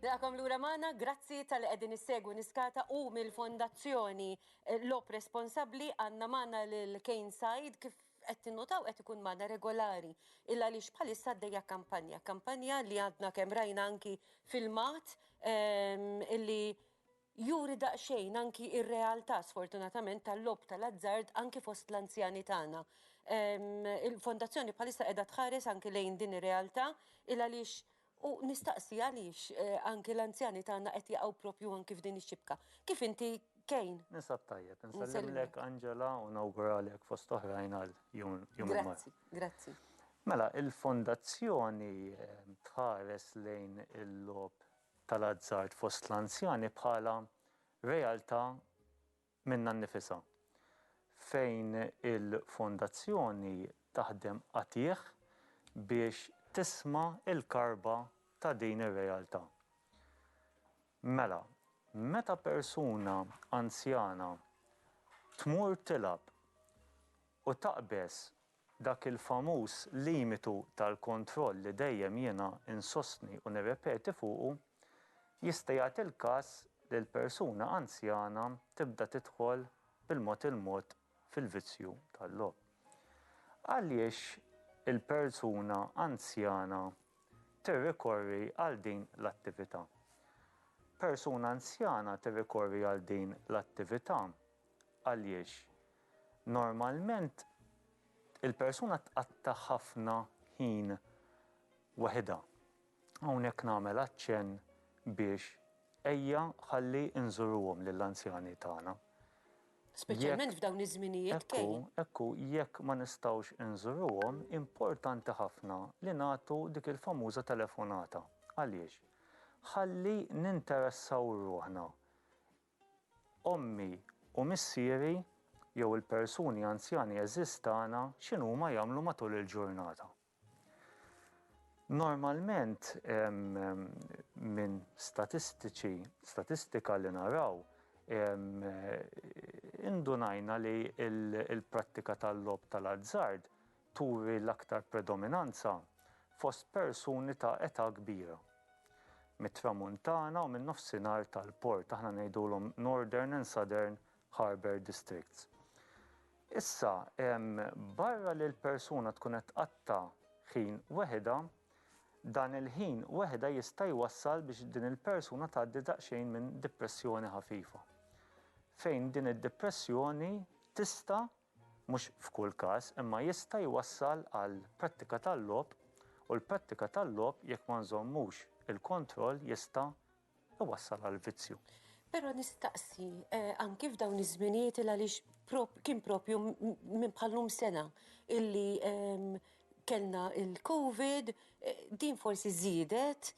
Nilqakom lura magħna, grazzi tal-li qegħdin issegwu niskata u mill-Fondazzjoni eh, Lop Responsabbli għandna magħna lil Kane Said kif qed tinnutaw qed ikun magħna regolari il għaliex bħalissa għaddejja kampanja, kampanja li għadna kemm rajna anki filmat ehm, illi juri daqsxejn anki ir-realtà sfortunatament tal-lob tal-azzard anki fost l-anzjani tagħna. Ehm, Il-fondazzjoni bħalissa qiegħda tħares anki lejn din ir-realtà il għaliex U nistaqsi għaliex anki l-anzjani tagħna qed jaqgħu proprju anki f'din ix-xibka. Kif inti Kane? Nisab tajjeb, insellimlek Angela u nawguralek fost oħrajn għal Jum il-Mara. Grazzi, grazzi. Mela, il-Fondazzjoni tħares lejn il-logħob tal-azzard fost l-anzjani bħala realtà minnha nnifisha, fejn il-Fondazzjoni taħdem qatigħ biex tisma' l-karba ta' din ir-realtà. Mela, meta persuna anzjana tmur tilgħab u taqbeż Dak il-famuż limitu tal-kontroll li dejjem jiena insostni u nirrepeti fuqu, jista' jagħti l-każ li l-persuna anzjana tibda tidħol bil-mod il-mod fil-vizzju tal-logħob. Għaliex il-persuna anzjana tirrikorri għal din l-attività? Persuna anzjana tirrikorri għal din l-attività għaliex Normalment il-persuna tqatta' ħafna ħin waħidha. Hawnhekk nagħmel aċċenn biex ejja ħalli nżuruhom lill-anzjani tagħna. Speċjalment f'dawn iż-żminijiet kej. Ekku, ekku, jekk ma nistgħux inżuruhom, importanti ħafna li nagħtu dik il-famuża telefonata. Għaliex? Ħalli ninteressaw ruħna Ommi u missieri jew il-persuni anzjani għeżież tagħna x'inhuma jagħmlu matul il-ġurnata? Normalment minn statistiċi, statistika li naraw, indunajna li l-prattika tal-logħob tal-azzard turi l-aktar predominanza fost persuni ta' età kbira. Mit-Tramuntana u min-Nofsinhar tal-Port, aħna ngħidulhom Northern and Southern Harbour Districts. Issa, barra li l-persuna tkun qed tqatta' ħin weħidha, dan il-ħin weħidha jista' jwassal biex din il-persuna tgħaddi daqsxejn minn dipressjoni ħafifa, fejn din id-dipressjoni tista' mhux f'kull każ, imma jista' jwassal għal prattika tal-logħob u l-prattika tal-logħob jekk ma nżommux il-kontroll jista' jwassal għal vizzju. Però nistaqsi, anki f'dawn iż-żminijiet il għaliex kien propju minn bħal-lum sena illi kellna l-Covid, din forsi żiedet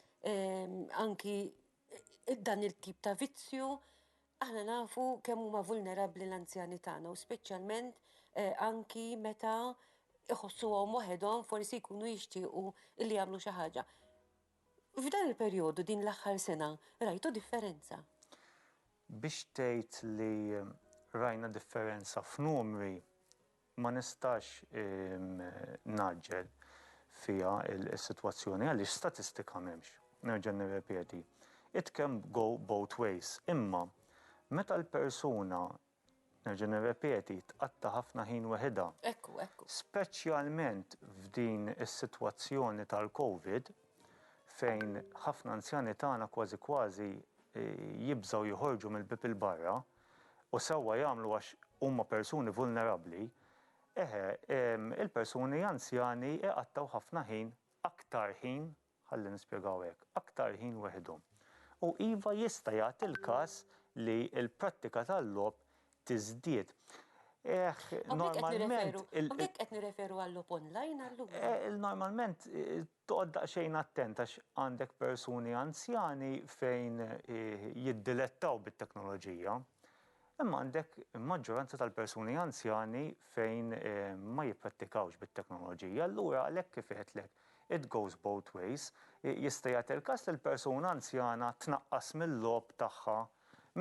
anki dan il-tip ta' vizzju, Aħna nafu kemm huma vulnerabbli l-anzjani tagħna u speċjalment anki meta iħossuhom waħedhom forsi jkunu jixtiequ li jagħmlu xi ħaġa. F'dan il-perjodu din l-aħħar sena rajtu differenza? Biex tgħid li rajna differenza f'numri, Ma nistax ngħaġġel fiha s-sitwazzjoni għaliex statistika m'hemmx. Nerġa' nirrepeti, it can go both ways. Imma meta l-persuna, nerġa' nirrepeti, tqatta' ħafna ħin weħidha, speċjalment f'din is-sitwazzjoni tal-Covid fejn ħafna anzjani tagħna kważi kważi jibżgħu joħorġu mill-bieb 'il barra, U sewwa jagħmlu għax huma persuni vulnerabbli, eħe, il-persuni anzjani iqattgħu ħafna ħin, aktar ħin, ħalli nispjegaw hekk, aktar ħin weħidhom. U iva jista' jagħti l-każ li l-prattika tal-logħob tiżdied. Eħ, normalment. Hawnhekk qed nirreferu għal-logħob online allura. Normalment Toqgħod daqsxejn attent għax għandek persuni anzjani fejn jiddilettaw bit-teknoloġija, imma għandek maġġoranza tal-persuni anzjani fejn ma jipprattikawx bit-teknoloġija. Allura għalhekk kif għedtlek, it goes both ways, jista' jagħti l-każ li l-persuna anzjana tnaqqas mil-logħob tagħha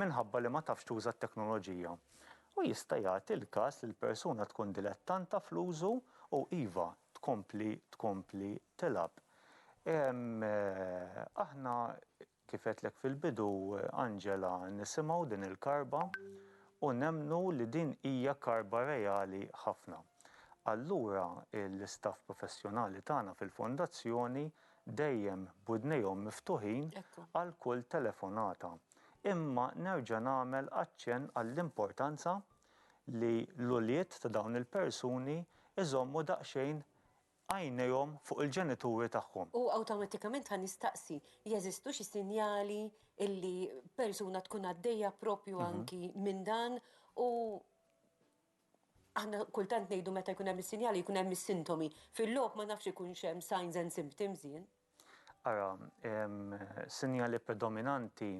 minħabba li ma tafx tuża t-teknoloġija. U jista' jagħti l-każ li l-persuna tkun dilettanta fl-użu u, iva, tkompli tkompli tilgħab. Aħna kif għedtlek fil-bidu Angela nisimgħu din il-karba u nemmnu li din hija karba reali ħafna. Allura l-istaff professjonali tagħna fil-Fondazzjoni dejjem b'widnejhom miftuħin għal kull telefonata. Imma nerġa' nagħmel aċċenn għall-importanza li l-ulied ta' dawn il-persuni jżommu daqsxejn għajnejhom fuq il-ġenituri tagħhom. U awtomatikament ħa nistaqsi, jeżistu xi sinjali illi persuna tkun għaddejja proprju anki minn dan u aħna kultant ngħidu meta jkun hemm is-sinjali jkun hemm is-sintomi. Fil-logħob ma nafx ikunx hemm signs and symptoms jien. Ara, sinjali predominanti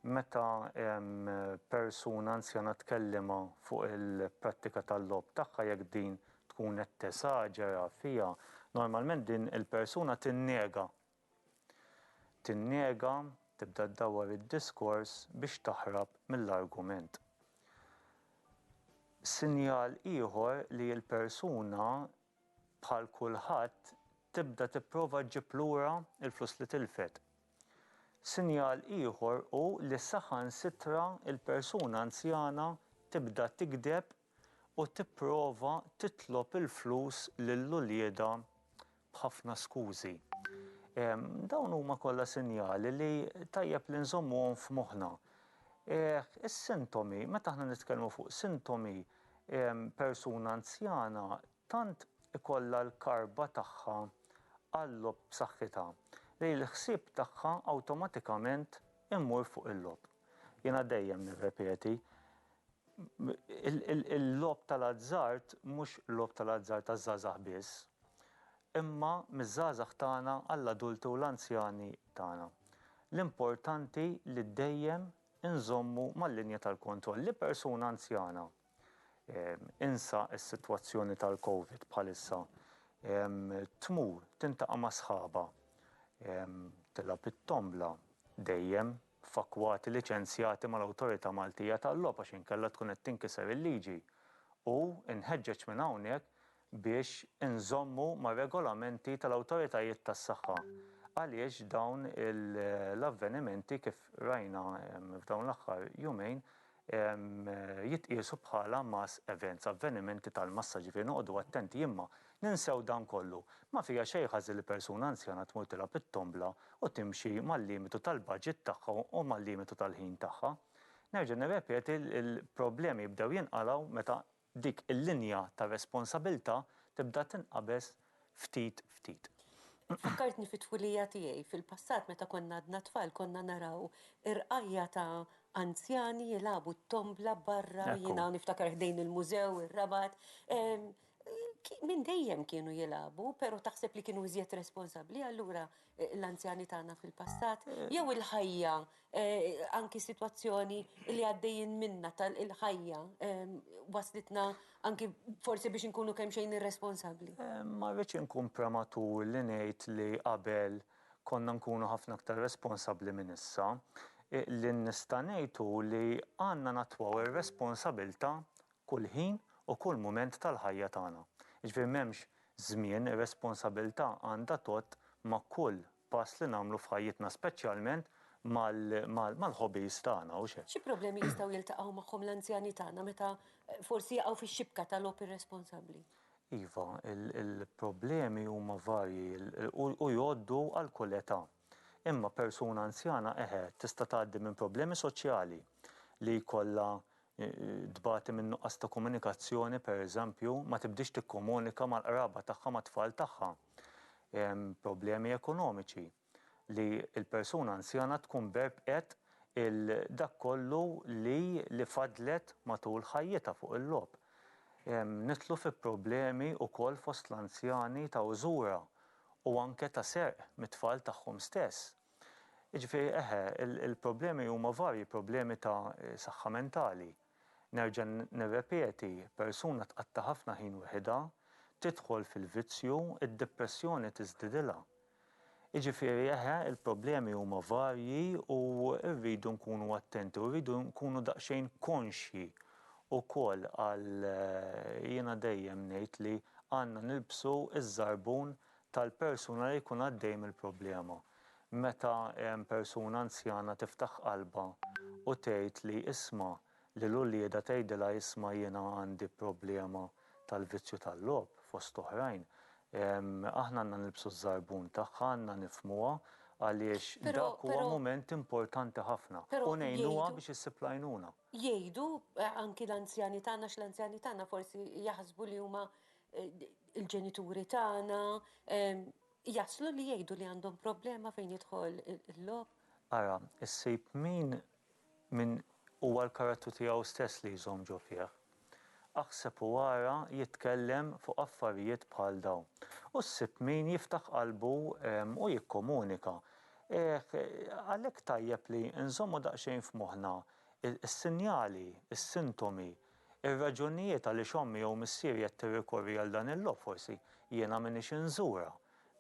meta persuna anzjana tkellimha fuq il-prattika tal-logħob tagħha jekk din tkun qed tesaġera fiha, normalment din il-persuna tinnega. Tinnega, tibda ddawwar id-diskors biex taħrab mill-argument. Sinjal ieħor li l-persuna bħal kulħadd tibda tipprova ġġib lura l-flus li tilfet. Sinjal ieħor hu li saħansitra l-persuna anzjana tibda tigdeb u tipprova titlob il-flus lil uliedha b'ħafna skużi. Dawn huma kollha sinjali li tajjeb li nżommuhom f'moħħna. Is-sintomi, meta aħna nitkellmu fuq sintomi, persuna anzjana tant ikollha l-karba tagħha għal-logħob b'saħħitha li l-ħsieb tagħha awtomatikament imur fuq il-logħob. Jiena dejjem nirrepeti, il-logħob tal-azzard mhux logħob tal-azzard għaż-żgħażagħ biss, imma miż-żgħażagħ tagħna għall-adulti u l-anzjani tagħna. L-importanti li dejjem inżommu mal-linja tal-kontroll li persuna anzjana, insa s-sitwazzjoni tal-Covid bħalissa, tmur tintaqa' ma' sħabha, tilgħab it-tombla, dejjem f'akkwati liċenzjati mal-Awtorità Maltija tal-Logħob għax inkella tkun qed tinkiser il-liġi u nħeġġeġ minn hawnhekk biex inżommu mar-regolamenti tal-awtoritajiet tas-saħħa għaliex dawn l-avvenimenti kif rajna f'dawn l-aħħar jumejn jitqiesu bħala mass events, avvenimenti tal-massa, ġifieri noqogħdu attenti imma ninsew dan kollu. Ma fiha xejn ħażin li persuna anzjana tmur tilgħab it-tombla u timxi mal-limitu tal-budget tagħha u mal-limitu tal-ħin tagħha. Nerġa' nirrepeti li l-problemi jibdew jinqalgħu meta dik il-linja ta' responsabilità tibda tinqabeż ftit ftit. Fakkartni fit-twilija tiegħi. Fil-passat meta konna għadna tfal konna naraw irqajja' ta' anzjani jilagħbu t-tombla barra, jiena niftakar ħdejn il-mużew, ir-Rabat. Minn dejjem kienu jilagħbu, però taħseb li kienu iżjed responsabbli, allura l-anzjani tagħna fil-passat, jew il-ħajja, eh, anki situazzjoni li għaddejjin minna tal-ħajja ehm, waslitna anki forsi biex nkunu kemm xejn irresponsabbli. Eh, ma rridx inkun prematur li ngħid li qabel konna nkunu ħafna aktar responsabbli minn issa, eh, li nista' ngħidu li għandna natwaw ir-responsabilta Kull ħin u kull mument tal-ħajja tagħna. Jiġifieri m'hemmx żmien, ir-responsabilità għandha tgħodd ma' kull pass li nagħmlu f'ħajjitna speċjalment mal-hobbies tagħna, hux hekk? Xi problemi jistgħu jiltaqgħu magħhom l-anzjani tagħna meta forsi jaqgħu fix-xibka ta' logħob irresponsabbli? Iva, il-problemi huma varji u jgħoddu għal kull età. Imma persuna anzjana eħe tista' tgħaddi minn problemi soċjali li jkollha tbati minn nuqqas ta' komunikazzjoni pereżempju ma tibdiex tikkomunika mal-qraba tagħha mat-tfal tagħha. Problemi ekonomiċi li l-persuna anzjana tkun berbqet il dak kollu li li faddlet matul ħajjitha fuq il-logħob. Nidħlu fi problemi wkoll fost l-anzjani ta' użura u anke ta' serq mit-tfal tagħhom stess. Jiġifieri eħe, il-problemi huma varji, problemi ta' saħħa mentali. Nerġa' nirrepeti, persuna tqatta' ħafna ħin weħidha, tidħol fil-vizzju, id-depressjoni tiżdidilha. Jiġifieri eħe, il-problemi huma varji u rridu nkunu attenti u rridu nkunu daqsxejn konxji ukoll għal jiena dejjem ngħid li għandna nilbsu ż-żarbun tal-persuna li jkun għaddej mill-problema. Meta persuna anzjana tiftaħ qalbha u tgħid li isma' lil uliedha tgħidilha isma' jiena għandi problema tal-vizzju tal-logħob, fost oħrajn, aħna għandna nilbsu ż-żarbun tagħha, għandna nifhmuha għaliex dak huwa mument importanti ħafna u ngħinuha biex issib l-għajnuna. Jgħidu anki l-anzjani tagħna għax l-anzjani tagħna forsi jaħsbu li huma il-ġenituri tagħna, jaslu li jgħidu li għandhom problema fejn jidħol il-logħob. Ara, issib min min huwa l-karattru tiegħu stess li jżomm ġo fih. Aħseb u ara jitkellem fuq affarijiet bħal dawn. U ssib min jiftaħ qalbu u jikkomunika. Eħ, għalhekk tajjeb li nżommu daqsxejn f'moħħna s-sinjali, is-sintomi, ir-raġunijiet għaliex ommi jew missieri qed tirrikorri għal dan il-logħob, forsi jiena m'iniex inżurha,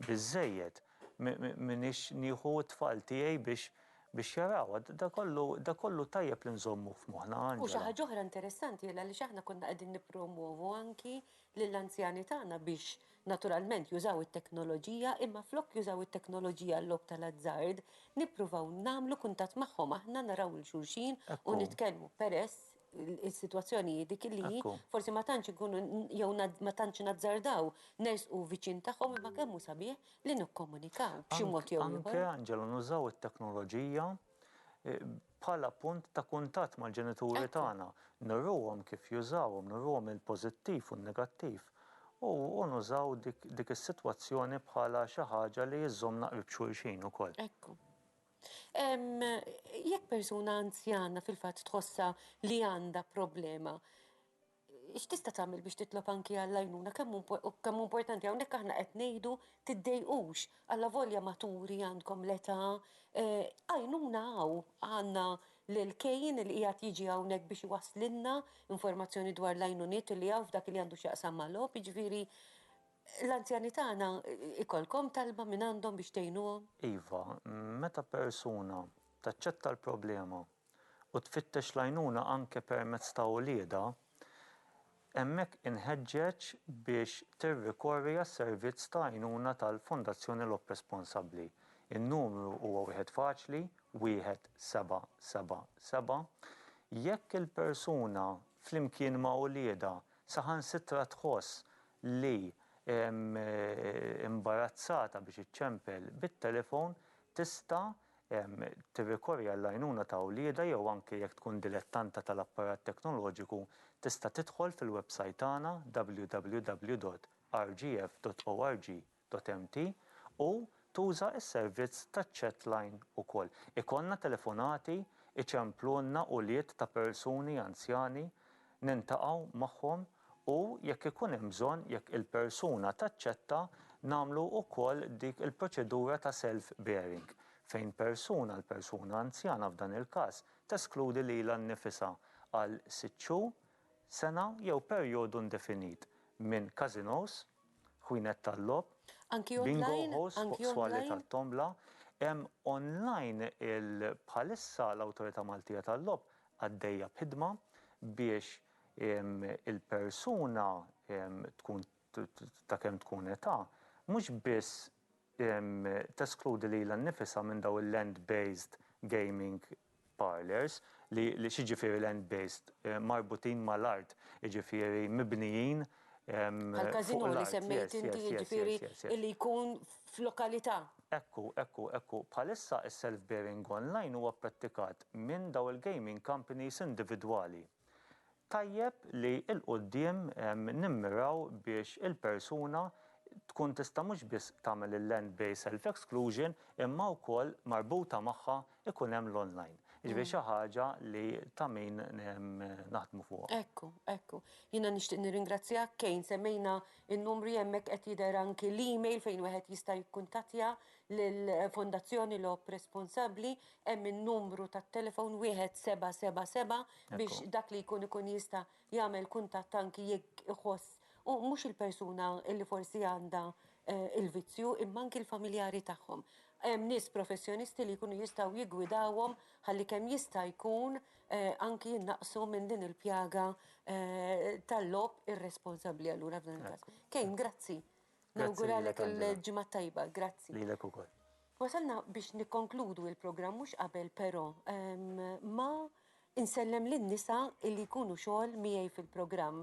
biżżejjed, m'iniex nieħu t-tfal tiegħi biex biex jarawha. Da kollu da kollu tajjeb li nżommuh f'moħħna, Angela. U xi ħaġa oħra interessanti għaliex aħna konna qegħdin nippromwovu anki lill-anzjani tagħna biex naturalment jużaw it-teknoloġija imma flok jużaw it-teknoloġija għal-logħob tal-azzard, nippruvaw nagħmlu kuntatt magħhom aħna, naraw 'il xulxin u nitkellmu peress is-sitwazzjoni hi dik li Ekku. forsi ma tantx ikunu jew nad- ma tantx nazzardaw nersqu viċin tagħhom imma kemm hu sabiħ li nikkomunikaw b'xi mod jew Anke, ieħor. Anġela, nużaw it-teknoloġija eh, bħala punt ta' kuntatt mal-ġenituri Ekku. tagħna. Nuruhom kif jużawhom, nuruhom il-pożittiv u n-negattiv. U u nużaw dik dik is-sitwazzjoni bħala xi ħaġa li żżommna qrib xulxin ukoll. Ekku. Jekk persuna anzjana fil-fatt tħossha li għandha problema, x'tista' tagħmel biex titlob anki għall-għajnuna? Kemm hu importanti, hawnhekk aħna qed ngħidu tiddejqux, allavolja maturi għandkom l-età, għajnuna hawn. Għandna lil Kane li qiegħed jiġi hawnhekk biex iwasslilna informazzjoni dwar l-għajnuniet li hawn f'dak li għandu x'jaqsam mal-logħob, jiġifieri, L-anzjani tagħna jkollkom talba minn għandhom biex tgħinuhom? Iva, meta persuna taċċetta l-problema u tfittex l-għajnuna anke permezz ta' uliedha, hemmhekk inħeġġeġ biex tirrikorri għas-servizz ta' għajnuna tal-Fondazzjoni Lok Responsabbli. In-numru huwa wieħed faċli, 1777. Jekk il-persuna flimkien ma' uliedha saħansitra tħoss li, imbarazzata biex iċċempel bit-telefon, tista' tirrikorri għall-għajnuna ta' wliedha jew anke jekk tkun dilettanta tal-apparat teknoloġiku tista' tidħol fil-websajt tagħna www.rgf.org Dotempty u tuża s-servizz taċ-chatline ukoll. Ikollna telefonati, iċemplulna ulied ta' persuni anzjani, niltaqgħu magħhom u jekk ikun hemm bżonn, jekk il-persuna taċċetta, nagħmlu ukoll dik il-proċedura ta' self bearing fejn persuna, l-persuna anzjana f'dan il-każ, teskludi lilha nnifisha għal sitt xhur, sena jew perjodu indefinit minn casinos, Ħwienet tal-logħob, bingo halls fuq swali tat-tombla, hemm online il bħalissa l-Awtorità Maltija tal-Logħob għaddejja b'ħidma biex il-persuna tkun ta' kemm tkun età mhux biss teskludi lilha nnifisha minn dawn il-land-based gaming parlours, li x'jiġifieri land based, marbutin ma' l-art, jiġifieri mibnijin Bħal casino li semmejt inti jiġifieri li jkun f'lokalità. Ekku, ekku, ekku. Bħalissa is-self bearing online huwa prattikat minn dawn il-gaming companies individwali. Tajjeb li 'l quddiem nimmiraw biex il-persuna tkun tista' mhux biss tagħmel il-land based self exclusion imma wkoll marbuta magħha jkun hemm l-online. Jiġifieri xi ħaġa li ta' min naħdmu fuqha. Ekku, ekku. Jiena nixtieq nirringrazzjak Kane, semmejna n-numri hemmhekk qed jidher anki l-email fejn wieħed jista' jikkuntattja lill-Fondazzjoni Logħob Responsabbli hemm in-numru tat-telefon 1777 biex dak li jkun ikun jista' jagħmel kuntatt anki jekk iħoss u mhux il-persuna li forsi għandha l-vizzju imma anki l-familjari tagħhom. Hemm nies professjonisti li jkunu jistgħu jiggwidawhom ħalli kemm jista' jkun anki jinnaqqsu minn din il-pjaga tal-logħob irresponsabbli allura f'dan il-każ. Kane, grazzi. Nawguralek il-Ġimgħa t-Tajba. Grazzi. Lilek ukoll. Wasalna biex nikkonkludu il-programm mhux qabel però ma insellem lin-nisa illi jkunu xogħol miegħi fil-programm.